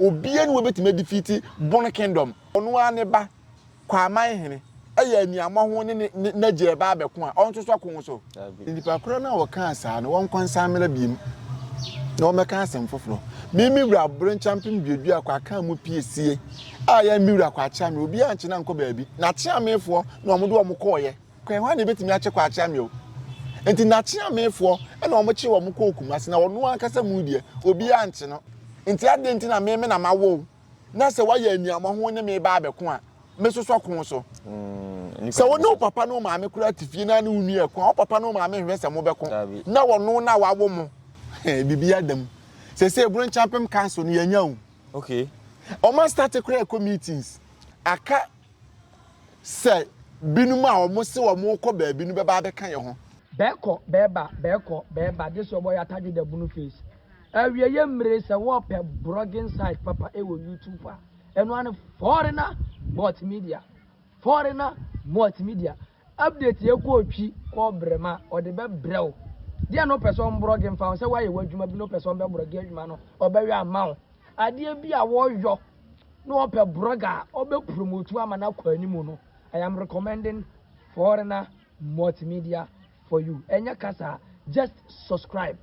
Obiara nni hɔ a obetumi adifiti Bone Kingdom. Ɔno ara ne ba, Kwaaman hene, yɛ aniammɔ ho ne n'agya reba abɛko a, ɔnsosɔ ko so. Nnipa korɔ no a wɔkaa saa no, wɔnkɔ nsan mmra biom na wɔmmɛka asɛm foforɔ. Me, me wura Borenkyampem duaduaa kɔ akaa mu pie sie a yɛ me wura kɔ akyeame, obiara ankyɛ no ankɔ baabi. N'akyeamefoɔ na wɔn de wɔn kɔeɛ. Kwan hwan na ebetumi akye kɔ akyea me o? Enti n'akyeamefoɔ na wɔkyee wɔn kɔɔ Kumasi, na ɔno ankasa mu deɛ, obiara nkye no. Enti adɛn nti na me me na mawo wo, na sɛ woayɛ aniammɔho wo ne me reba abɛko a, mesosɔ ko so? Sɛ wo ne wo papa ne wo maame koraa te fie na ne wo nua reko a, wo papa ne wo maame nhwɛ sɛ mobɛko na ɔno na wawo mo? Biribiara da mu. Seesei Eburo Nkyɛmpem Council no, yɛanya o. Wɔastate koraa rekɔ meetings. Aka Sɛ binom a wɔse wɔrekɔ baabi no bɛba abɛka yɛn ho. Bɛkɔ bɛba bɛkɔ bɛba this your boy atadwe da bunu face awieɛ mmire sɛ wɔpɛ brogging site papa wɔ YouTube a ɛno ara ne foreigner multimedia foreigner multimedia Update yɛ kɔɔ twi kɔɔ brɛ ma ɔde bɛ brɛ wo deɛ na ɔpɛ sɛ ɔmbrɔge nfa ho sɛ wayɛ wadwuma bi na ɔpɛ sɛ ɔbɛ brɔge adwuma no ɔbɛyɔ ama wo adeɛ bi a wɔyɔ na ɔpɛ brɔge a ɔbɛ promote ama no akɔ anim no I am recommending foreigner multimedia for you ɛnyɛ kasa just subscribe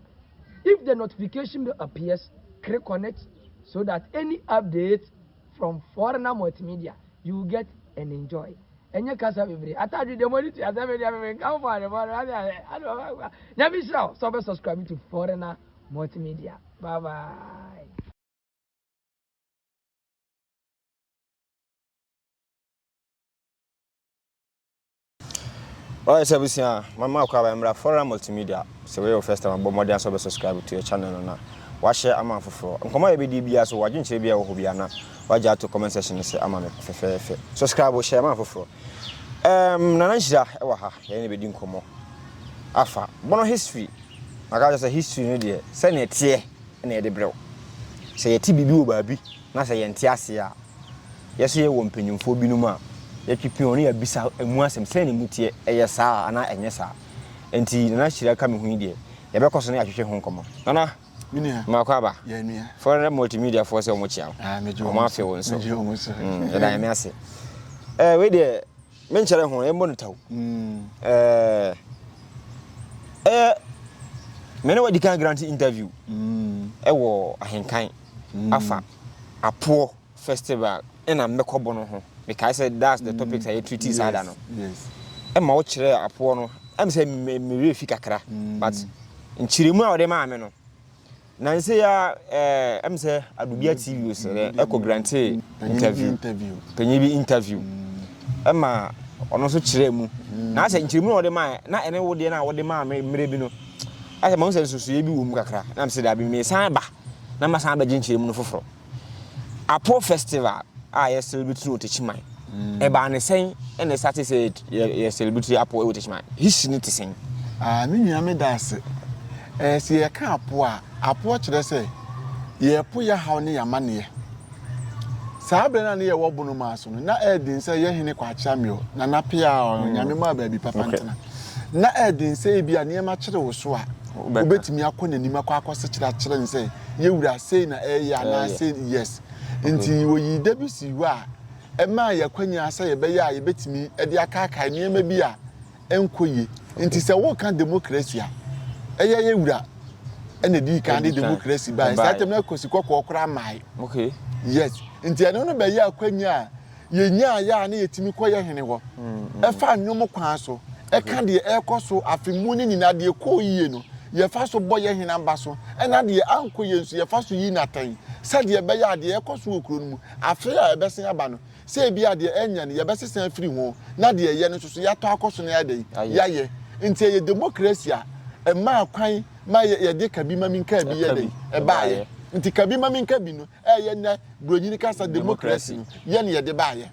if the notification bell appears click on it so that any update From foreigner multimedia you will get and enjoy ɛnyɛ kasa bebree atadwe deɛ mɔde tua sɛ media bɛbɛ nka mfɔ ade mɔde ade ade ade ɔbɛ ɔbɛ nyame hyira wo sɛ ɔbɛ subscribe to foreigner multimedia bye bye. Ɔyɛ sɛ abusua a, ma ma ɔkɔ aba mmra Fora Multimedia. Sɛ wei yɛ wo first time a, bɔ mmɔden ara sɛ wobɛ subscribe to yɛ channel no na w'ashare ama afoforɔ. Nkɔmmɔ a yɛbɛdie biara so, w'adwenkyerɛ biara a ɛwɔ hɔ biara na w'agya ato comment section no sɛ ama me fɛfɛɛfɛ. Subscribe o, share ma afoforɔ. Ɛɛm, Nana Nhyira wɔ ha, yɛne no bɛdi nkɔmmɔ afa Bono history. Maka akyerɛ sɛ history no deɛ, sɛdeɛ ɛteɛ na yɛde brɛ wo. Sɛ yɛte biribi wɔ baabi na sɛ yɛnte aseɛ a, Yɛsɛ yɛwɔ mpanyimfoɔ binom a, yɛtwe pin wɔn na yɛabisa ɛmu asɛm, sɛn na ɛmu teɛ, ɛyɛ saa anaa ɛnyɛ saa? Enti Nana Hyira ka me ho yi deɛ, yɛbɛkɔ so ne atwetwe ho nkɔmmɔ. Nana, mmaako aba. Frɛ Multimedia foɔ sɛ wɔkyea wo. Wɔn afe wo nso. Yɛda Nyame ase. Wei deɛ, Me nkyɛrɛ ho ɛmmɔ no taw. Ɛyɛ me ne wo adikan grant interview ɛwɔ ahenkan afa apoɔ festival ɛna mmɛkɔ bɔ no ho. Mekae sɛ that's the topics a yɛ treat saa da no. Ɛma wo kyerɛ apoɔ no ɛm sɛ me werɛ fi kakra but nkyerɛmu a ɔde maa me no Nanse yi ara eh, em sɛ Adubia TV o sɛ dɛn ɛkɔ grantee interview, panyin bi interview, ɛma ɔno nso kyerɛɛ mu. Na asɛ nkyerɛmu na ɔde mae, na ɛne wo deɛ no a wode maa me mmerɛ bi no, asɛ mahu sɛ nsusuiɛ bi wɔ mu kakra, na mese daabi, mesan ba na masan abɛgye nkyerɛmu no foforɔ. Apo festival a yɛ celebrate no wɔ Techiman. Mm. Ɛbaa ne sɛn ɛna ɛsa te sɛ yɛ celebrate apo wɔ Techiman. History no te sɛn? Ah, me nua me da ase. Eh, sɛ yɛka apo a, apo kyerɛ sɛ yɛpo yɛ haw ne yɛamaneɛ. Saa berɛ no a ne yɛwɔ bono maa so no, na ɛden sɛ yɛ hene kwakyea meɔ, na napea ɔnyame mm. maa baabi papa ntena. Na ɛden sɛ ebi a nneɛma kyere wo so a, wobɛtumi akɔ n'anim akɔ akɔsekyerɛ akyerɛ no sɛ yɛ wura sei na ɛyɛ anaa sei yes nti wɔyii da bi sii hɔ a ɛmaa yɛ akwanya sɛ yɛbɛyɛ a yɛbɛtumi de akaakae nneɛma bi a ɛnkɔ yie nti sɛ woka demokrasi a ɛyɛ yɛ wura ɛna di kan de demokrasi bae saa tɛm na kɔsi kɔkɔɔ koraa mae yes nti ɛno no bɛyɛ akwanya a Yɛnyaeɛ a na yɛtumi kɔ yɛn hene hɔ, fa nnwom kwan so ka deɛ ɛrekɔ so afe mu no nyinaa, deɛ ɛkɔɔ yie no, yɛfa so bɔ yɛn hene aba so, na deɛ ankɔ yie nso, yɛfa so yi no atɛn, sɛdeɛ ɛbɛyɛ a deɛ ɛrekɔ so wɔ kuro no mu afe a ɛbɛsen aba no, sɛ ebia deɛ ɛnyɛ no, yɛbɛsesa afiri ho, na deɛ ɛyɛ no nso so, yɛatɔ akɔ so na yɛayɛ dɛn? Yɛayɛ. Nti ɛyɛ demokrasi a ɛmaa kwan ma yɛde ka bi ma menka bi yɛ dɛn? Ɛbaeɛ. Nti ka bi ma menka bi no, ɛyɛ nnɛ. Buronyin kasa demokrasi no yɛ na yɛde baeɛ.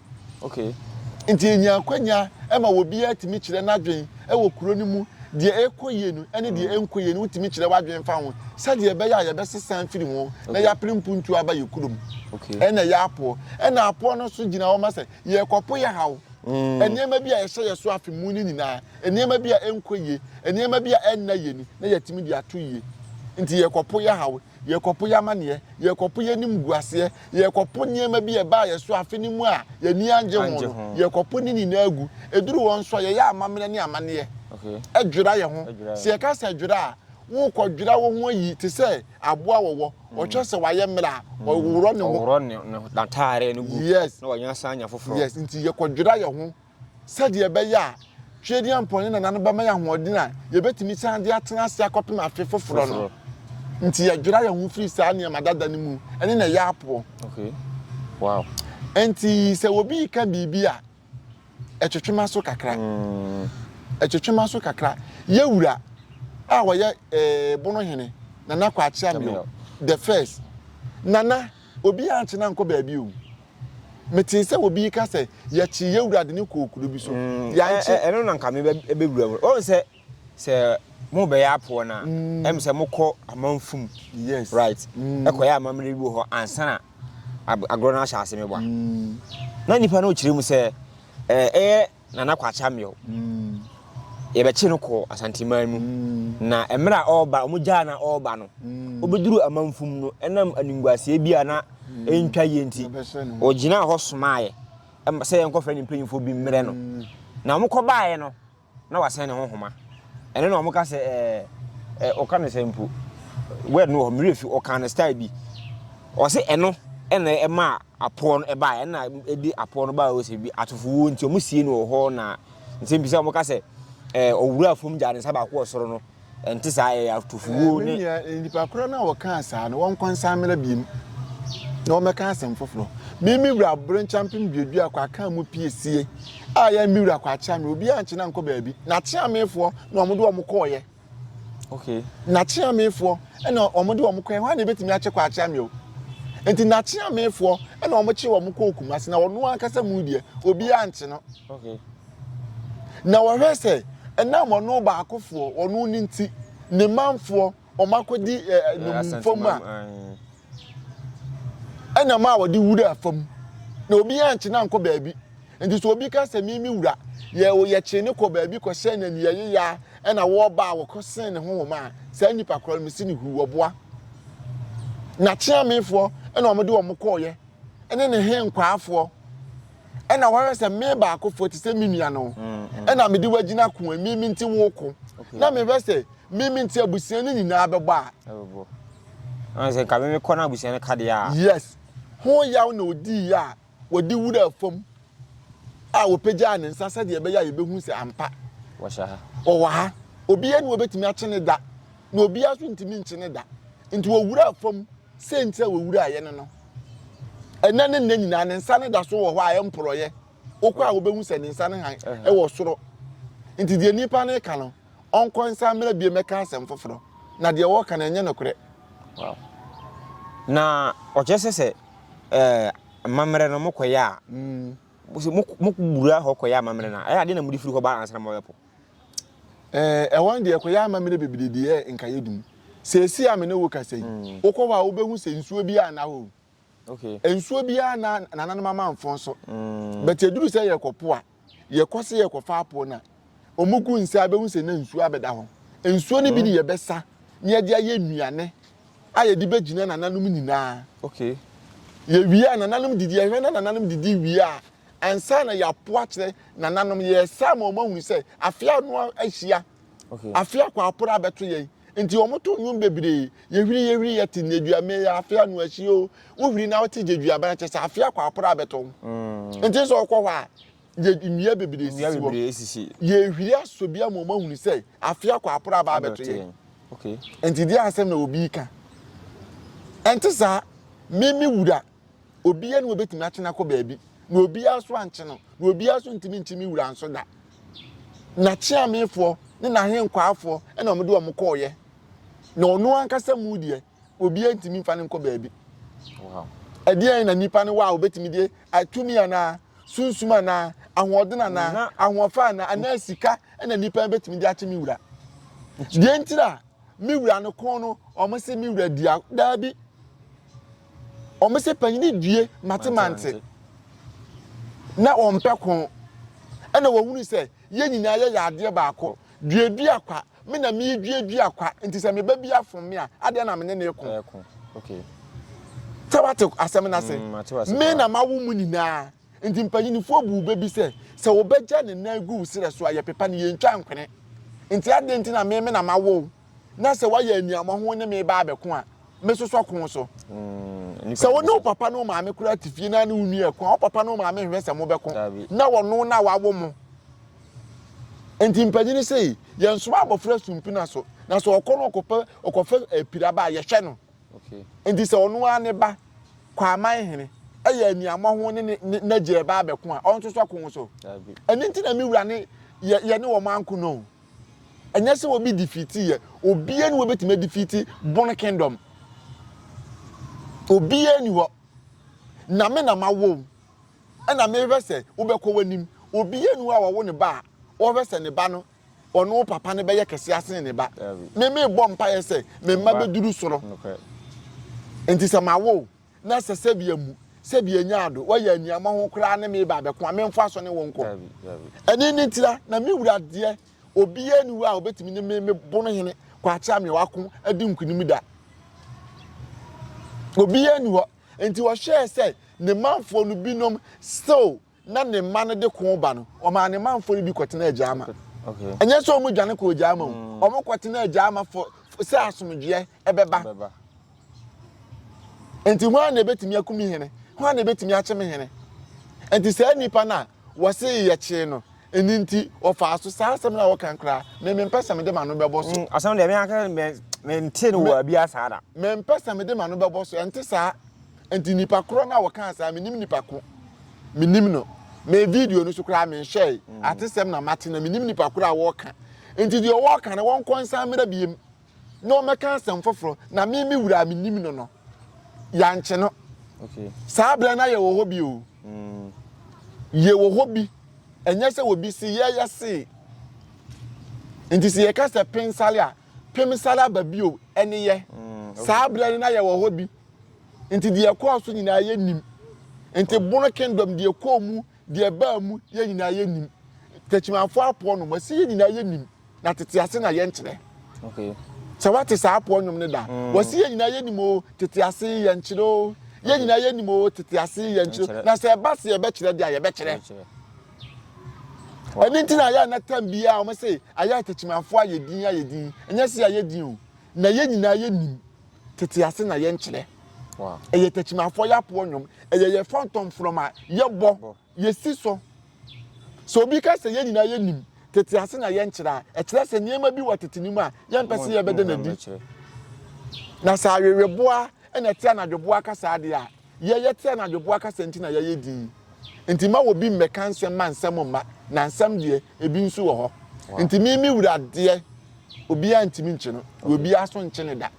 Nti ɛnya akwanya ma obiara tumi kyerɛ n'adwen wɔ kuro no mu. Deɛ ɛrekɔ yie no ne deɛ ɛnkɔ yie no wotumi kyerɛ w'adwen fa ho sɛdeɛ ɛbɛyɛ a yɛbɛsesa afiri ho na yɛapere mpuntuo aba yɛ kuro mu. Ɛna ɛyɛ apoɔ. Ɛna apoɔ no nso gyina hɔ ma sɛ yɛrekɔpo yɛ haw. Nneɛma bi a ɛhyɛ yɛ so afe mu no nyinaa, nneɛma bi a ɛnkɔ yie, nneɛma bi a ɛnna yɛn ani na yɛatumi de ato yie. Nti yɛrekɔpo yɛ haw. Yɛrekɔpo yɛn amanneɛ, yɛrekɔpo yɛn animguaseɛ, yɛrekɔpo nneɛma bi a ɛbaa yɛn so afe no mu a yɛn ani annye ho no, yɛrekɔpo ne nyinaa gu. Ɛduru hɔ nso a, yɛyɛ amammerɛ ne amanneɛ dwira yɛn ho. Sɛ yɛka sɛ dwira a, worekɔdwira wo ho ayi te sɛ aboa a wɔwɔ, ɔkyerɛ sɛ wayɛ mmerɛ a, ɔreworɔ ne ho. Ɔworɔ n'atadeɛ no gu na ɔsan nya foforɔ. Yes, nti yɛkɔdwira yɛn ho. sɛdeɛ ɛbɛyɛ a Tweaduampɔn ne Nana no bɛma yɛn ahoɔden a yɛbɛtumi san de atena ase akɔpem afe foforɔ no nti yɛdwera yɛn ho firi saa nneɛma dada no mu ne na ɛyɛ apoɔ. Nti sɛ obi reka biribi a, ɛtwetwe m'aso kakra. Ɛtwetwe m'aso kakra. Yɛ wura a ɔyɛ Bono hene, Nana Kwakye Ameo the first. Nana, Obi ankye no ankɔ baabi o. Metee sɛ obi reka sɛ, Yɛkyee yɛn wura de no kɔɔ kuro bi so. Yɛankye. Ɛno na anka mebɛwura mu. Wohu sɛ, sɛ morebɛyɛ apoɔ no a, ɛm sɛ mokɔ amanfo mu. Yes. Right? Ɛkɔyɛ amammerɛ bi wɔ hɔ ansa na agorɔ no ahyɛ ase meboa. Na nipa no kyerɛ mu sɛ, ɛyɛ Nana Kwakye Ameaw. Yɛbɛkye no kɔɔ Asanteman mu, na mmerɛ a ɔreba, wɔn gyaa na ɔreba no, ɔbɛduru amanfum no, ɛnam animguaseɛ bi a na ɛntwa yie nti, ɔgyinaa hɔ somaeɛ sɛ yɛnkɔfrɛ ne mpanyimfoɔ bi mmerɛ no. Na wɔkɔbaeɛ no, na wasɛn ne ho nhoma. Ɛno na wɔka sɛ ɛɛ ɔka no sɛ mpo, word no wɔ hɔ, mmerɛ fi ɔka no style bi, ɔse ɛno na ɛmaa apoɔ no ɛbaa yɛ na ɛdi apoɔ no baa ɔsɛ bi atofo wuo nti wɔn sie no wɔ hɔ na nsɛm bisa wɔn ka sɛ ɛɛ ɔwura fam gya ne nsa baako wɔ soro no ɛnte saa ɛyɛ atofo wuo ne. nipa korɔ no a wɔkaa saa no wɔn kɔ nsa mmerɛ biem na wɔn bɛka asɛm foforɔ mimi wura abere nkyampem duadua kɔ aka mu pie sie a yɛ mi wura kɔ akyea mi obi ankyena nkɔ baabi na akyea mefoɔ na wɔn de wɔn kɔɔyɛ. Okay. N'akyeamefoɔ ɛna wɔn de wɔn kɔɛ hwan na ebetumi akyɛ kɔ akyeame o nti n'akyeamefoɔ ɛna wɔn kye wɔn kɔɔ kumasi na wɔn ankasa mu deɛ obiara nkye no. Okay. Na wɔhwɛ sɛ ɛnam wɔn baakofoɔ wɔn ne nti ne manfoɔ wɔn akɔdi ɛɛ eh, eh, eh, nnommumfoɔ mu a. ɛnam a wɔde wuraa fam, na obi ankye no ankɔ baabi. Nti sɛ obi ka sɛ, Mimi wura, yɛ o, yɛkyee no kɔɔ baabi kɔhyɛɛ no anuayeyaa, ɛna wɔba a wɔkɔsen ne honhom a, saa nnipa korɔ no, mese no huu ɔboa. N'akyeamefoɔ na wɔde wɔn kɔeɛ, ne ne he nkwaafoɔ. ɛna wɔhwɛ sɛ me baakofoɔ te sɛ me nua no ɛna mede wagyina ko a mimi nti woko na mehwɛ sɛ mimi nti abusua no nyinaa bɛbɔ a sɛ nka mimi kɔ no abusua no kadeɛ a yes ho yaw na ɔdii a wɔde wura fam a wɔpagyaa ne nsa sɛdeɛ ɛbɛyɛ a yɛbɛhu sɛ ampa ɔwɔ ha obiara ne wɔbɛtumi akye ne da na obiara nso ntumi nkye ne da nti wɔwura fam Siantsir a wowuraa yɛn no, ndɛ na nda nyina ne nsa no da so wɔ hɔ a mporɔeɛ, wokɔ a wobehu sɛ ne nsa no hann wɔ soro. Ntsi deɛ nyimpa no reka no, ɔnkɔ nsan mbra bio mbɛka asɛm fofor, na deɛ wɔreka no, nnyɛ nokorɛ. Wow. Na ɔkyerɛ sɛ sɛ eh, amammerɛ no mokɔyɛ a, sɛ mo- mokɔwura hɔ kɔyɛ amammerɛ no a, ɛyɛ adeɛ na mode firi hɔ ba ansa na moabɛpo. Ɛɛ, ɛhɔ no deɛ, ɛkɔyɛ amammerɛ bebree de yɛɛ nkaeɛ dum. Seesei a me ne wo kasa yi, mm. wokɔ hɔ a wobɛhu sɛ nsuo biara nna hɔ. Okay. Nsuo biara na nananom amanfo nso. Mm. But ɛduru sɛ yɛkɔpo a, yɛkɔ sɛ yɛkɔfa apo no a, wɔn gu nsa a bɛhu sɛ na nsuo abɛda hɔ. Nsuo no bi de mm. yɛbɛsa na yɛde ayɛ nnuane a yɛde bɛgyina nananom nyinaa. Okay. Yɛwie a nananom didi, yɛhwɛ na nananom didi wie a, ansa na yɛapo akyerɛ nananom. Yɛyɛ saa ma wɔahunu sɛ afe ano ahyia, afe akwaaporo abɛto yɛn. Nti wɔto nnwom bebree. Yɛhwiri, yɛhwiri, yɛte nneduaban mu, ɛyɛ afe ano ahyia o. Wohwiri na wote gyeduaban kyɛ sɛ afe akwaaporo abɛto wo. Mm. Nti sɛ ɔkɔ hɔ a, yɛ nnua bebree sisi hɔ. Yɛhwiri asɔ bi ama wɔahunu sɛ afe akwaaporo aba abɛto yɛn. Nti deɛ asɛm na obi ka. Ɛnte saa, mimi wura. Obiara nni hɔ a obetumi akye no akɔ baabi, na obiara nso ankye no, na obiara nso ntumi nkye me wura nso da. N'akyeamefoɔ ne n'ahenkwaafoɔ na wɔde wɔn kɔeɛ, na ɔno ankasa mu deɛ, obiara ntumi mfa no nkɔ baabi. Ɛdeɛn na nnipa no wɔ a obetumi de atumi anaa sunsum anaa ahoɔden anaa ahoɔfɛ anaa anaa sika na nnipa betumi de akye me wura? Deɛ ntira me wura no ko no, wɔn se me wura di a, daabi. Wɔn sɛ panyini due matemante na wɔn pɛ ko ɛna wɔn hunu sɛ yɛn nyinaa yɛ yɛ adeɛ baako duadua kwa me na me duadua kwa nti sɛ me ba bi afom me a adeɛ na me ne ne ko sɛ wate asɛm no ase mm, me na mawo mu nyinaa nti mpanyinifoɔ bu bɛ bi sɛ sɛ wɔbɛgya ne nan gu wo serɛ so a yɛpepa no yɛntwa nkwene nti adeɛ nti na me me na mawo na sɛ woayɛ aniammɔho ne me ba abɛko a, mesosɔ ko so. Mm, sɛ wo ne wo papa ne wo maame koraa te fie na ne wo nua ɛko a, wo papa ne wo maame nhwɛ sɛ mobɛko na wɔno na wawo mo. Nti mpanyin sei, yɛnsoma abɔfra sumpina so, na sɛ ɔkɔ no ɔkɔpɛ ɔkɔfɛ apiraba eh, a yɛhwɛ no. Nti sɛ ɔno ara ne ba kɔ aman hene ɛyɛ aniammɔho ne n'agya ɛba abɛko a, ɔnsosɔ ko so. Ɛno nti na me wura ne yɛne wɔn anko no. Ɛnyɛ sɛ obi defeati yɛ. Obiara ni wɔbɛtumi adefeati bone kingdom. Obiara ni hɔ. Na me na mawo wo. Ɛna mehwɛ sɛ wobɛkɔ w'anim. Obiara ni hɔ a wɔwo ne ba a ɔhwɛ sɛ ne ba no ɔno papa no bɛyɛ kɛse asen ne ba. Me mebɔ mpaeɛ sɛ me mma bɛduru soro. Nti sɛ mawo wo. na sɛ sɛbea mu sɛbea nya ado wɔyɛ aniama ho koraa ne me ba bɛko a memfa so ne wo nkɔ ɛne ne ntira na me wura deɛ obiara ni hɔ a obetumi ne me mebo no hene kwakyɛ me wako adi nkunim da obiara ni hɔ nti wɔhwɛɛ sɛ ne manfoɔ no binom still na ne mma no de ko ba no, ɔmaa ne manfoɔ no bi kɔtenaa Agyaama. Ɛnyɛ sɛ wɔn dwane kɔɔ Agyaama o, mm. wɔn kɔtenaa Agyaama sɛ asomdwoeɛ ɛbɛba. Nti hwan na ebetumi akum hene? Hwan na ebetumi akyem hene? Nti saa nipa no a wɔse yɛkyee no ɛni nti wɔfaa so saa asɛm no a wɔka koraa me mempɛ sɛ mede m'ano bɛbɔ so mm, asɛm deɛ meaka mente no wɔ abia saa da mempɛ sɛ mede m'ano bɛbɔ so ɛnte saa Nti nipa korɔ no a wɔkaa saa menim nipa ko menim no me video no so koraa menhwɛe mm. atesɛm na mate na menim nipa korɔ a wɔka nti deɛ wɔka no wɔnkɔ nsa mmerɛ biem na wɔmɛka asɛm foforɔ na me me wura a menim no no yɛankye no saa berɛ no ayɛ wɔ hɔ bi o mm. yɛ wɔ hɔ bi ɛnyɛ sɛ wɔbi se yɛyɛ see nti sɛ yɛka sɛ pensale a Pem sare aba bio, ɛne yɛ. Saa berɛ no na yɛwɔ hɔ bi. Nti deɛ ɛkɔɔ so nyinaa yɛnnim. Nti Bono Kingdom, deɛ ɛkɔɔ mu, deɛ ɛbaa mu, yɛn nyinaa yɛnnim. Takyimanfoɔ apoɔ nom, wɔse yɛn nyinaa yɛnnim, na tete ase na yɛnkyerɛ. Sɛ woate saa apoɔ nnwom no da, wɔse yɛn nyinaa yɛnnim o, tete ase yɛnkyerɛ o, yɛn nyinaa yɛnnim o, tete ase yɛnkyerɛ o, na sɛ ɛba sɛ yɛbɛkyerɛ deɛ a, yɛbɛkyerɛ. Ɛno nti na ayɛ na tam biara wɔn se ayɛ atakyimanfoɔ ayɛ din ayɛ din ɛnyɛ se ayɛ din o na yɛ nyinaa yɛ nim tete ase na yɛ nkyerɛ ɛyɛ atakyimanfoɔ yɛ apoɔ nnwom ɛyɛ yɛ fɔntɔn from a yɛ bɔ yɛ si so so obi ka sɛ yɛ nyinaa yɛ nim tete ase na yɛ nkyerɛ a ɛkyerɛ sɛ nneɛma bi wɔ tete nim a yɛn mpɛ se yɛ bɛda na di na sɛ aweweboa ɛna ɛte anadwoboa kasa adeɛ a Yɛyɛ te anadwoboa kasa nti na yɛayɛ dinn. Enti mma obi mmɛka nsɛm mma nsɛm mma, na nsɛm deɛ, ebi nso wɔ hɔ. Enti me, me wura deɛ, obiara ntumi nkye no, na obiara nso nkye no da.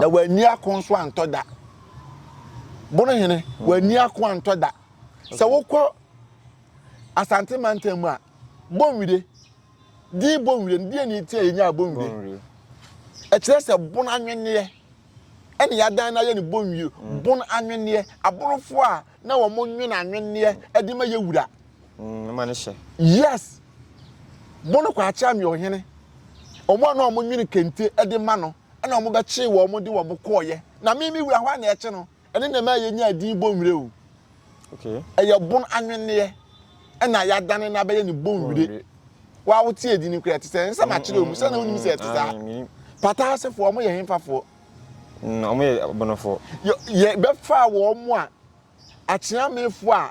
Na wanni ako nso antɔ da. Bonohene, wanni ako antɔ da. Sɛ wokɔ Asante mantam mu a, Bonwire, Din Bonwire no, deɛn nti a yɛnyaa Bonwire? Ɛkyerɛ sɛ bon anwenneɛ ɛna yɛadan no ayɛ no Bonwire. Bon anwenneɛ, aborofoɔ a na wɔn nwen anwenneɛ ɛde ma yɛ wura. Ɛma no hyɛ. Yes, bon Kwakyeame Ɔhene, wɔn a na wɔn nwen kente ɛde ma no ɛna wɔn bɛkyee wɔn de wɔn kɔɔyɛ. Na me me wura hɔ a na ɛkye no. Ɛno na ɛma yɛnyaa din Bonwire o. Ɛyɛ bon anwenneɛ na yɛadane no abɛyɛ no Bonwire. Woa wote edin no koraa ɛte sɛ nsɛm akyerɛ mu sɛ na wonim sɛ ɛte saa. Pata asefoɔ wɔn yɛ hefafoɔ? Wɔn yɛ Abonofoɔ. Yɛbɛfaa wɔn a Akyeamefoɔ a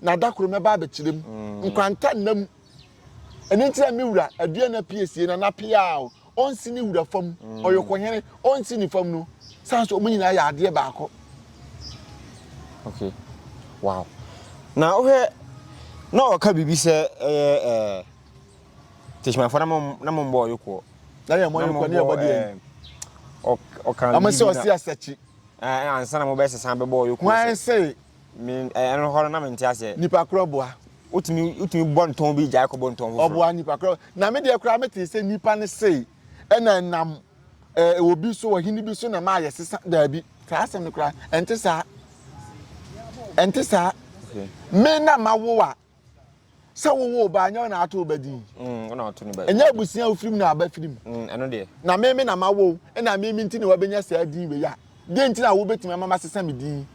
Na da koro mɛba abɛkyerɛ mu nkwanta nna mu. Ɛno nti na me wura adua no apie sie na n'apea a ɔnsi ne wura fam, ɔyɔkohene ɔnsi ne fam no, sane sɛ wɔn nyinaa yɛ adeɛ baako. Okay. Wow. Na wohwɛ na ɔka biribi sɛ ɛyɛ ɛɛ tesimafoɔ na mo na mo mbɔ ɔyokoɔ. Na yɛ mo ɔyokoɔ ne yɛ bɔ deɛ. Ɔka biribi na. Ɔmo sɛ ɔsi asakyi. Ɛɛ ansa na mo bɛsesa bɛbɔ ɔyokoɔ. Wɔn sɛ Me eh, ɛno hɔ no na mente aseɛ. Nipa korɔ boa. Wotumi wotumi bɔ ntɔn bi gyae kɔbɔ ntɔn foforɔ. Ɔboa nipa korɔ. Na me deɛ koraa metee sɛ nipa no sei ɛna ɛnam eh, obi so, ɔhene bi so na maa yɛsesa. Daabi, saa asɛm no koraa ɛnte saa. Ɛnte saa. Okay. Me na mawo a sɛ wowo wo ba nyɛ wo na ato wo ba din mm, ɛnyɛ abusua a wofirim na aba firim mm, na meme na mawo na meme nti na wabɛnya saa din wei a deɛ nti na wobɛtumi ama masesa me din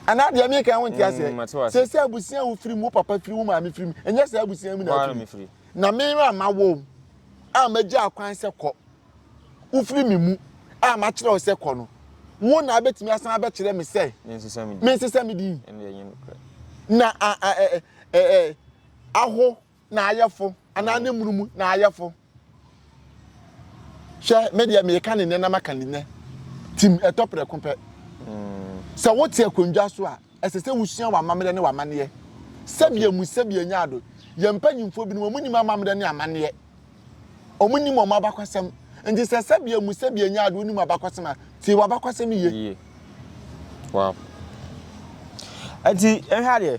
anaa deɛ meka ho nte aseɛ mm, sɛ sɛ abusua a wofirim wo papa firi wo maame firim ɛnyɛ saa abusua mu na afiri na meme a mawo a magya akwan sɛ kɔ wofiri me mu a makyerɛ wo sɛ kɔ no, wo na abɛtumi asan abɛkyerɛ me sɛ mensesa me din. Na aho na ayɛfo anaa ne munumu na ayɛfo. Hwɛ, me deɛ meka ne nnɛ na maka ne nnɛ. Tim ɛtɔ prɛko pɛ. Sɛ wote akonnwa so a, ɛsɛ sɛ wosua w'amammerɛ ne w'amanneɛ. Sɛbea mu sɛbea nyaado, yɛn mpanyimfoɔ binom wɔn nim amammerɛ ne amanneɛ. Wɔn nim wɔn abakɔsɛm. Nti sɛ sɛbea mu sɛbea nya ade wonim abakɔsɛm a, tie w'abakɔsɛm yie. Yie. Wow. Nti ɛhwɛ adeɛ.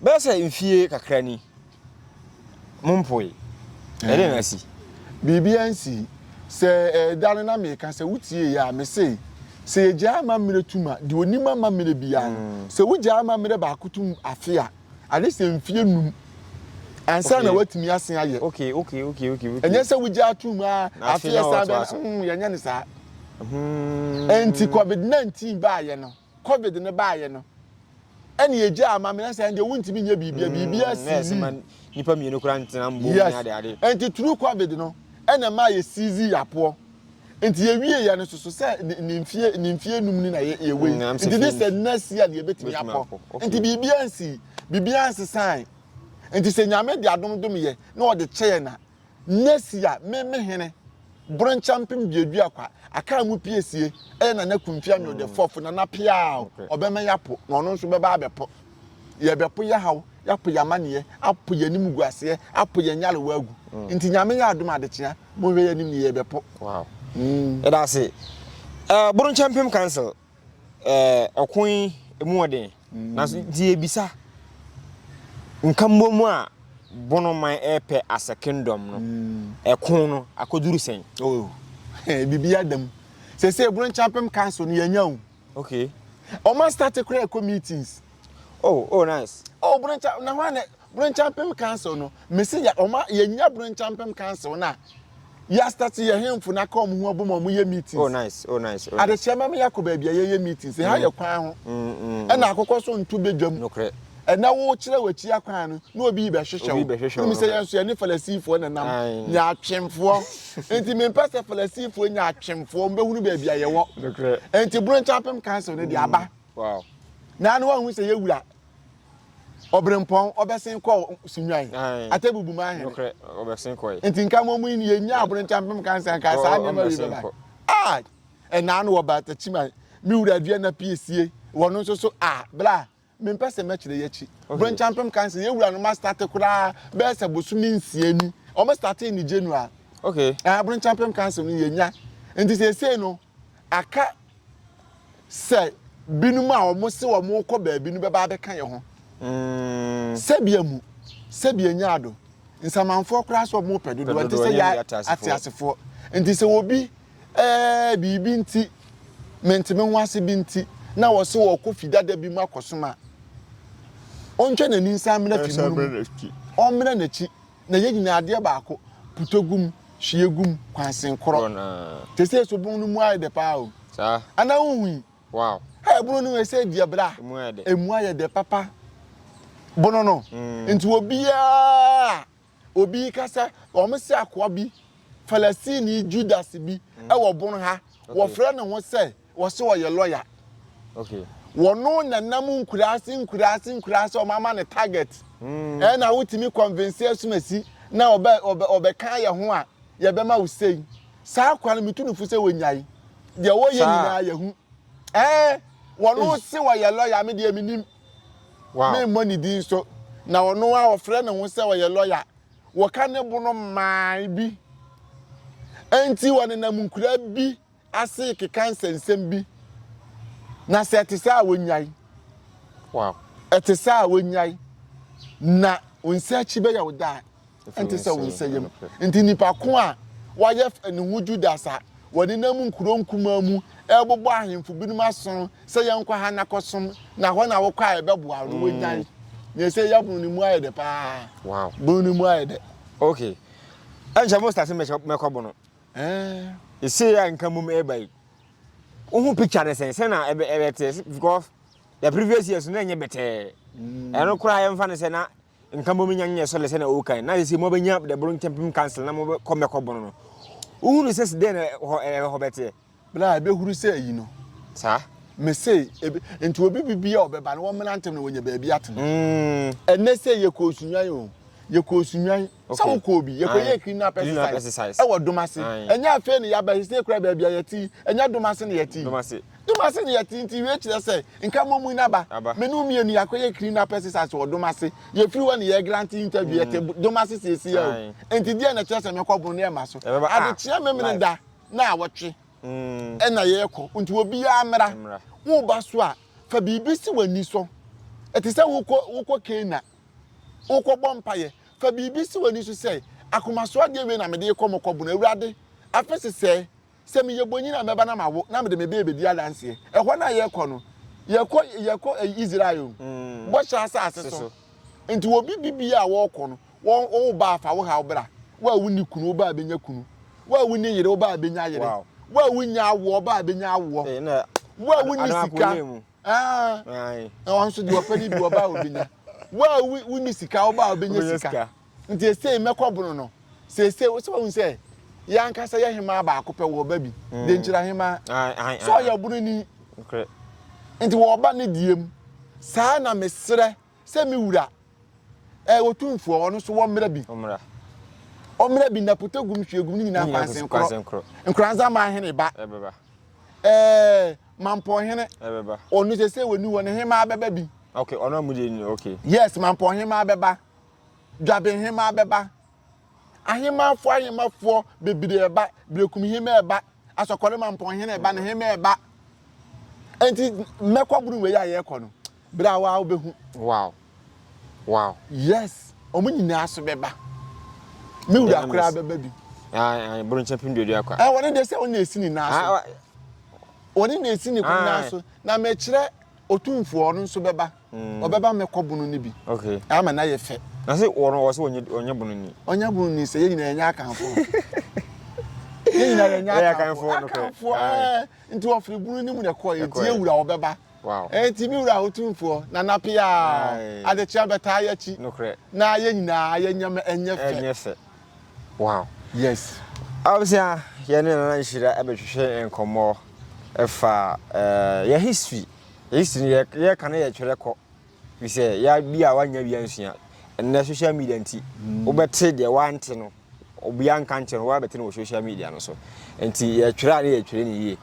Bɛyɛ sɛ mfie kakra ni. Mo mpoe. Ɛde na asi. Biribiara nsi. Sɛ ɛda no na meka sɛ wotie yɛ a mese sɛ yɛgyaa amammerɛ tum a deɛ onim amammerɛ biara no sɛ wogyaa amammerɛ baako tum afe a Ade sɛ mfeɛ nnum ansa na watumi asen ayɛ. Okay, okay, okay, okay. Ɛnyɛ sɛ wogya ato mu a afeɛ san bɛn no, mm, yɛnyɛ no saa. Hmm. Ɛnti COVID-19 baayɛ no, COVID no baayɛ no, ɛne ɛgya ama me nsa ɛndeɛ wontumi nyɛ biribia, hmm, biribia sii mu. Nipa mmienu kora ntena mbom ne ade ade. Ɛnti through COVID no, ɛna ɛma yɛ seize yɛ apoɔ. Nti yɛwie yɛ no soso sɛ ne mfie ne mfie num ni na yɛ yɛ wei mm, nti de sɛ nna si a ne yɛbɛtumi akɔ nti biribiara nsi biribiara nsesan nti sɛ nyame de adom dom yɛ na ɔde kyɛ yɛ na nna si a me me hene broncha mpem duadu akwa aka mu pie sie ɛyɛ nana kumfia mi ɔde mm. fɔfo nana piaa ɔbɛma yɛ apo na ɔno nso bɛba abɛpo Yɛbɛpo yɛn haw, yɛapo yɛn amaneɛ, apo yɛn animguaseɛ, apo yɛn nyarewa agu. Mm. Nti Nyame yɛ adom adekyea, monhwɛ yɛn anim ne yɛbɛpo. Wow. Mm. Yɛda ase. Uh, Boronkyɛ Mpem Council, uh, ɔko yi emu wɔ den. Mm. Nanso nti yɛbisa, nka mmom a bonoman ɛpɛ as a kingdom no, mm. ɛko no akɔduru sɛn? Oh. Biribi adam. Sɛ sɛ Boronkyɛ Mpem Council no yɛnya o. Okay. Oma start kura ɛkɔ meetings. Oh, oh nice. Oh, Broncha, na hɔ anɛ, Bronchampem Council no, mesi ya, oma yɛnya Bronchampem Council na, ya start yɛ hemfo na ka ɔmo ho abom ɔmo yɛ meetings. Oh nice, oh nice, oh nice. Adekyɛ mɛma yɛakɔ baabi a yɛyɛ meetings, ha yɛ kwan ho. Ɛna akokɔ so nto badwam. Nokorɛ. ɛnɛ wokyerɛ w'akyi akwan no na obi rebɛhwehwɛ wo. Wonim sɛ yɛn nso yɛne Farisifoɔ na nam, nya atwemfoɔ. Enti mempɛ sɛ Farisifoɔ nya atwemfoɔ, wɔbɛhunu baabi a yɛwɔ. Enti Borɔnkyɛnpem Council no de aba. Na ano wahu sɛ yɛ wura ɔberempɔn ɔbɛsen kɔ sunwan atɛ bubu ma ahene nti nka mo mu yɛ nya aborɔnkyɛ mpem kansa nka saa nneɛma wi bɛba a ɛnaa no wɔ baatakyima me wura dua na piesie wɔn nso so a bla Mempɛ sɛ mɛkyerɛ yi akyi. Brenchampem kan sɛ yɛn wura no ma starte koraa bɛyɛ sɛ bosome nsia ni. Wɔn startee no January. Okay. Ah, Brenchampem Council no yɛnya. Nti seesei no, aka sɛ binom a wɔn se wɔn rekɔ baabi no bɛba abɛka yɛn ho. Mm. Sɛbia mu, sɛbia nya ado. Nsamanfoɔ koraa sɛ wɔn pɛ dodoɔ. Nti sɛ yɛ ateasefoɔ. Nti sɛ obi Ɛɛ, biribi nti, mente me ho ase bi nti, na ɔse ɔrekɔ fi dada bi mu akɔsom a. Ɔntwa n'ani nsan mmra fi mono mu. Ɔmmra n'akyi, na yɛn nyinaa adeɛ baako, putɔ gu mu, hwie gu mu, kwansen korɔ. Te sɛ so bon no mu ayɛ dɛ paa o? Anaa wonhui? Hɛ, bono no ɛsɛ deɛ bra, ɛmu ayɛ dɛ papa. Bono no, nti obiara a. Obi reka sɛ, Wɔasi akoa bi, Falasini Judas bi, wɔ bon ha. Wɔfrɛ ne ho sɛ, wɔse ɔyɛ lɔya. Wɔno na nam nkuraase nkuraase nkuraase a wɔama no target. Hmm. Ɛna wotumi convince asumasi na ɔbɛka yɛ ho a, yɛbɛma wo sei. Saa akoa no metu no fo sɛ wɔnyae. Deɛ wɔyɛ nyinaa yɛhu. Ɛɛ, wɔno se wɔyɛ lɔya, me deɛ menim. memmɔ ne din so, na ɔno a ɔfrɛ ne ho sɛ ɔyɛ lɔya, wɔka ne bo no mman bi. Enti wɔnenam nkuraa bi ase rekeka nsɛnsɛm bi, na sɛ ɛte saa a wonyae. Wow. Ɛte saa a wonyae, na wo nsa akyi bɛyɛ wo daa. nte sɛ wo nsa yam. Enti nnipa ko a wɔayɛ ne ho Judas a wɔnenam nkurow nkumaa mu rebobɔ ahemfo binom asono sɛ yɛnkɔ ha na kɔsom, na hɔ na wokɔ a yɛbɛboa wo no, wonyae. Nea ɛsɛ yɛ bono no mu ayɛ dɛ paa. Wow. Bono no mu ayɛ dɛ. Okay. Ɛnkyɛ mo start mɛkɔ bono. Eh. Ɛsɛ yɛ nka mum ɛba yi. Wo ho picture ne sɛn? Sɛ na ɛbɛteɛ because the previous years no ɛnyɛ bɛtɛɛ. Mm. Ɛno koraa yɛmfa ne sɛ na Nka mbom nya nyɛ sɔle sɛ na ɔwɔ kan, na sesei mo abɛnya the Boro Nkyɛmpem Council na mo bɛ kɔ mɛkɔ bono no. Wo hunu sɛ se dɛn na hɔ ɛɛ hɔ bɛteɛ? Bere a ɛbɛ huru sɛ ayi no. Saa. Mesee, ebi, nti obi bi bia ɔbɛba no wɔmmena ntɛm na wɔnya baabi atena. Mm. Ɛnɛ sɛ yɛkɔ Osunwan o, yɛkɔ Osunwan, okay. Sɛ wokɔ obi, yɛkɔ yɛ criminal exercise, ɛwɔ Domase. Ɛnyɛ afei ne yɛabɛ, sesei kora baabi a yɛte, ɛnyɛ Domase ne yɛte. Domase. Domase no yɛ tee nti wie kyerɛ sɛ nka mommui n'aba. Me ne wo mmienu yɛakɔyɛ Krina Pesticides wɔ Domase. Yɛfiri hɔ na yɛregrante interview, yɛte Domase seesei o. Enti deɛn na ɛkyerɛ sɛ mɛkɔboro no ɛmma so? Adekyeɛ Memeneda nnawɔtwe na yɛrekɔ nti obiara mmra. Woreba so a, fa biribi si w'ani so. Ɛte sɛ wokɔ wokɔ Canaan, worekɔbɔ mpaeɛ. Fa biribi si w'ani so sɛ, Akomasoɔ adeɛ wei na mede rekɔ mekɔboro Awurade. Afe sesɛɛ, Sɛ meyɛ bonyin a, mɛba na mawo, na mede me bere bedi adanse. Ɛhɔ no a yɛkɔ no, yɛkɔ, yɛkɔ Israel, Bɔhyɛ Asase so. Enti obi bibia a wɔkɔ no, wo, wo ba a fa wo haw bra. Wo a wunni kunu, wo ba a benya kunu. Wo a wunni yere, wo ba a benya yere. Wo a wunnya awoɔ, wo ba a benya awoɔ. Wo a wunni sika, ɛɛ, na ɔno nso deɛ ɔpɛ no bi, ɔba a obenya. Wo a wunni sika, wo ba a obenya sika. Nti esei mɛkɔ bono no. Seesei wo sɛ wahu sɛ yɛn ankasa yɛ hemaa baako pɛ wɔ ɔba bi, mm. denkyira hemaa. Sɛ ɔyɛ ɔbono ni. Nti wɔ ɔba ne deɛ mu. Saa na mesrɛ sɛ me wura ɛɛ eh, otumfoɔ ɔno so wɔ mmerɛ bi. Ɔmmerɛ bi naputa gum hwie gum ne nyinaa kwansen korɔ. Nkoranza maa hene ba. Ɛbɛba. Ɛɛ eh, mampɔ hene. Ɛbɛba. Ɔno sɛ sɛ wɔ ni hɔ ne hemaa bɛba bi. Okay, ɔno amu deɛ ni okay. Yes, mampɔ hemaa bɛba. dwabenhemmaa bɛba, ahemmafoɔ ahemmafoɔ bebree ɛba, berekum hemmaa ɛba, asɔkɔrema mpɔnhene ɛba, ne hemmaa ɛba. Enti mɛkɔ buru wei a yɛrekɔ no, berɛ a waa wobɛhu. Wow. Wow. Yes, wɔn nyinaa so bɛba. Me wura koraa bɛba bi. Bronkyɛ pem duadua kwa. Wɔne deɛ sɛ wɔne ɛsi ne nan so. Wɔne na ɛsi ne kɔn nan so. Na mɛkyerɛ otumfoɔ no nso bɛba. mm. ɔbɛba mɛkɔ bono no bi okay. ama na yɛ fɛ na sɛ wɔn wɔ sɛ ɔnyɛ bono ni ɔnyɛ bono ni sɛ yɛ nyinaa yɛnyɛ akanfo yɛ nyinaa yɛnyɛ akanfo akanfo ɛɛ nti wɔfiri bono no mu na ɛkɔ yɛ nti yɛ wura ɔbɛba ɛnti mi wura ahotumfoɔ na nape a adekyea bɛtaa yɛ akyi na yɛ nyinaa yɛ nyɛ ɛnyɛ fɛ ɛnyɛ fɛ wow yes abusua yɛne nana nhyira ɛbɛhwehwɛ nkɔmmɔ ɛfa ɛɛ yɛ history History no yɛ yɛ ka na yɛ twɛrɛ kɔ. Fi sɛ yɛ bi a wanya bi ansua. Ɛnɛ social media nti wobɛte deɛ wante no obi anka nkyɛn no wabɛte no wɔ social media no so. Nti yɛ twɛrɛ a ne yɛ twɛrɛ ne yie.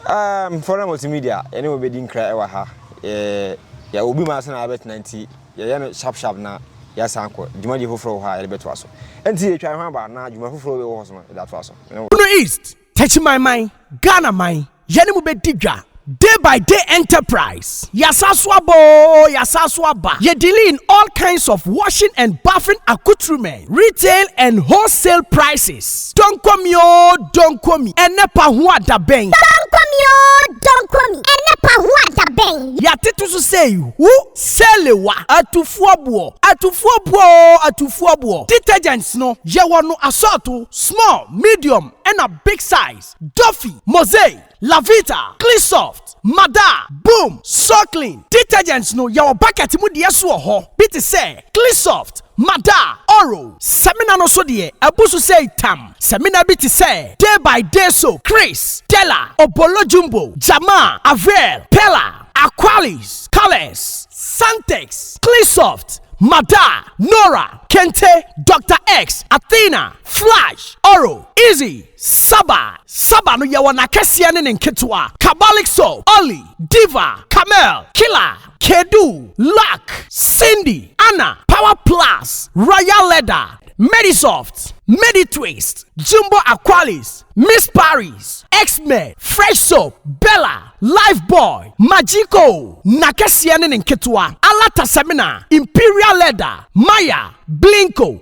Um, foreign multimedia ɛne wo bɛdi nkra ɛwɔ ha. Yɛ yɛ obi ma ase na abɛtena nti yɛ yɛ no sharp sharp na yɛ san kɔ dwumadie foforɔ wɔ hɔ a yɛde bɛtoa so. Nti yɛ twa ho aba na dwuma foforɔ bɛwɔ hɔ so no yɛde atoa so. Bono East Techimanman, Ghana man, yɛne mo bɛdi dwa, Day by Day Enterprise, Yɛasan so aba oo, yɛasan so aba, yɛ dealing in all kinds of washing and bathing accoutrements, retail and wholesale prices, Donkomi oo, Donkomi, ɛnnɛ pa ho a da bɛn? Donkomi oo, Donkomi, ɛnnɛ pa ho a da bɛn? Yɛatete so sɛ ihu, sɛlewa, atufoɔ boɔ, atufoɔ boɔ oo, atufoɔ boɔ, detergents no, yɛwɔ no asɔɔto, small, medium, ɛna Big Size, Dofy, Mosey, Lavita, Clean Soft, Mada, Boom, Soklin. Detergents no yɛwɔ bucket mu deɛ so wɔ hɔ bi te sɛ Clean Soft, Mada, Oro. Samina no so deɛ abu so sei tam. Samina bi te sɛ Day by Day Soap, Chris, Della, Obolo Jumbo, Jamaa, Avril, Perla, Aqualis, Colors, Santex, Clean Soft, Mada, Nora, Kente, Doctor X, Athena. Flash, Oro, Izzy, Saba, Saba no yɛwɔ n'akɛseɛ ne ne nketewa, Kabalik Soap, Olly, Diva, Camel, Killer, Kedu, Luck, Cindy, Anna, Power Plus, Royal Leather, Medisoft, Meditwist, Jumbo Aqualis, Miss Paris, X-Men, Fresh Soap, Bella, Lifebuoy, Magico, n'akɛseɛ ne ne nketewa, Alata Semina, Imperial Leather, Maya, Blinko,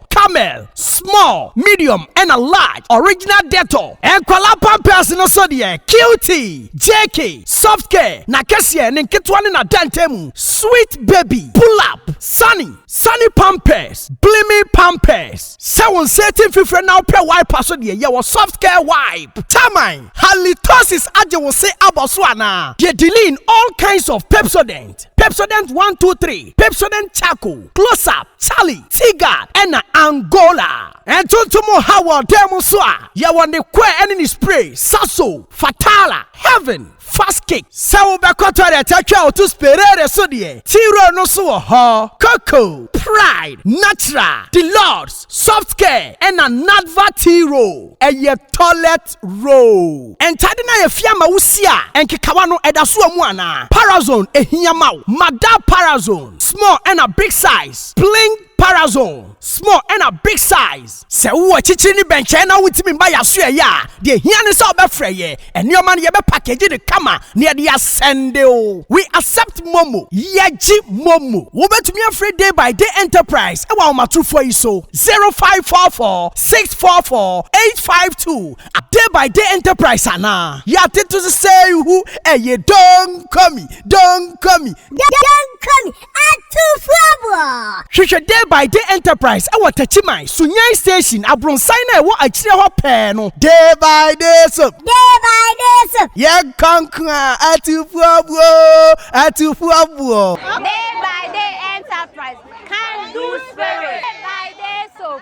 Camel, small, medium ɛna large, original Dettol. Nkwadaa pampers no so deɛ, Cutie, JK, Soft Care, n'akɛseɛ, ne nketewa ne n'adantɛmu, Sweet Baby, Pull Up, Sunny, Sunny Pampers, Blimi Pampers. Sɛ wo nsa ati mfifire na wopɛ wipe a so deɛ, yɛwɔ Soft Care Wipe. Taman, Halitosis agye wo se abɔ so anaa? Deɛ Diline, all kinds of Pepsodent, Pepsodent 1, 2, 3, Pepsodent Charcoal, Close Up, Charlie Tigard na Angola. Ntontom ha wɔ dan mu nso a, yɛwɔ ne kɔɛ ne ne spray, Sasso, Fatala, Heaven, Fast Kick. Sɛ wobɛkɔ toilet atwa a woto Sperere so deɛ, T-Roll no nso wɔ hɔ. Coco, Pride, Natural, Deluxe, Soft Care na Nadva T-Roll yɛ toilet. First row. Ntade no a yɛafia ama wo si a nkekawa no da so wɔ mu anaa? Parazone ehia ma wo? Ma da Parazone small ɛna big size Pling Parazone small ɛna big size. Sɛ wowɔ akyikyiri ne bɛnkyɛn na wontumi mma yɛn asoɛeɛ a, deɛ ɛhia ne sɛ wobɛfrɛ yɛn. Nneɛma no, yɛbɛpakegye no kama na yɛde asɛnde wo. We accept momo, Yɛgye momo. Wobɛtumi afrɛ Day by Day Enterprise wɔ ahomatorofoɔ yi so, 0544. six four four eight five two a day by day enterprise anaa yɛate to sesei hu ɛyɛ donkomi donkomi donkomi atufoɔboɔ hwehwɛ day by day enterprise ɛwɔ takyiman sunyani station abronsan no a ɛwɔ akyire hɔ pɛɛ no day by day soap day by day soap yɛ nkonkoa atufoɔboɔ atufoɔboɔ day by day enterprise can do spirit day by day soap